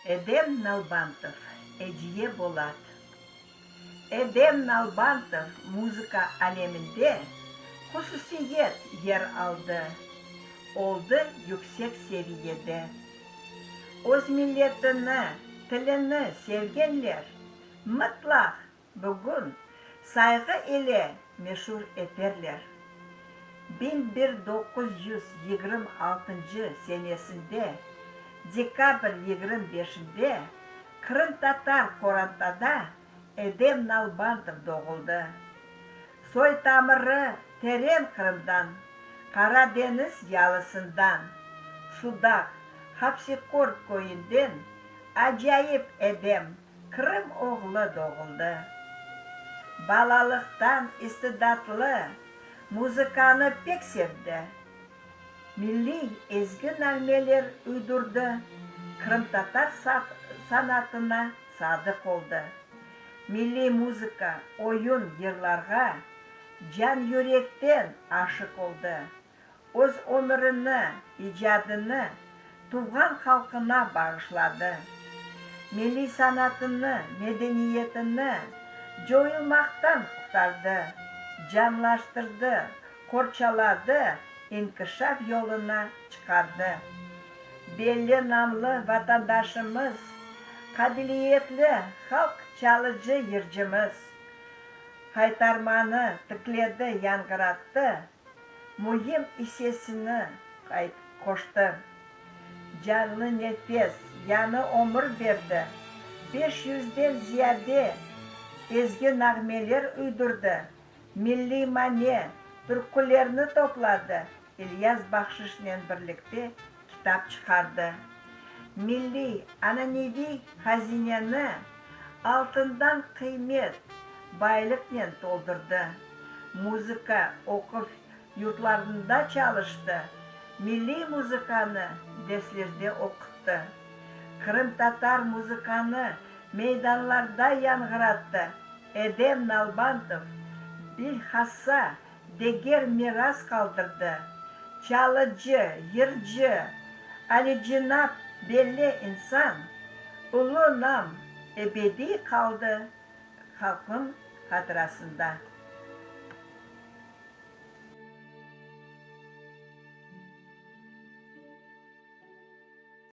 Edem Nalbantov, Ediye Bolat. Edem Nalbantov muzıka aleminde hususiyet yer aldı, oldı yüksek seviyede. Öz milletini, tilini sevgenler mıtlaq Bugün Sayğı ile meşur eterler. Biñ bir doquz yüz yigrim altıncı senesinde dekabr yigrim beşinde qırımtatar Qorantada Edem Nalbantov doğuldı. Soy-tamırı teren Qırımdan, Qara deñiz yalısından, Sudaq, Hapsikorb köyünden acayip Edem, Qırım oğlu doğuldı. Balalıqtan istidatlı muzıkanı pek sevdi. Milliy ezgi nağmeler uydurdı, qırımtatar sanatına sadıq oldı. Milliy muzıka, oyun, yırlarğa can-yürekten aşıq oldı. Öz ömürini, icadını tuvğan halqına bağışladı. Milliy sanatını, medeniyetini coyulmaqtan qurtardı, canlaştırdı, qorçaladı, inkişaf yoluna çıqardı. Belli namlı vatandaşımız, qabiliyetli halq çalıcı yırcımız Haytarmanı tikledi, yanğırattı, Müim issesini qayt qoştı. Canlı nefes, yanı ömür berdi. Beş yüzden ziyade ezgi nağmeler üydürdi, milliy mane, türkülerni topladı, İlyas Bahşişnen birlikte Kitap çıqardı. Milliy, ananeviy hazineni altından qıymet, baylıqnen toldurdı. Muzıka, oquv yurtlarında çalıştı, milliy muzıkanı derslerde oquttı. Qırımtatar muzıkanı meydanlarda yanğırattı. Edem Nalbantov, bilhassa deger miras qaldırdı. Çalıcı, yırcı, alicenap belle insan, ulu nam ebediy qaldı halqnıñ hatırasında.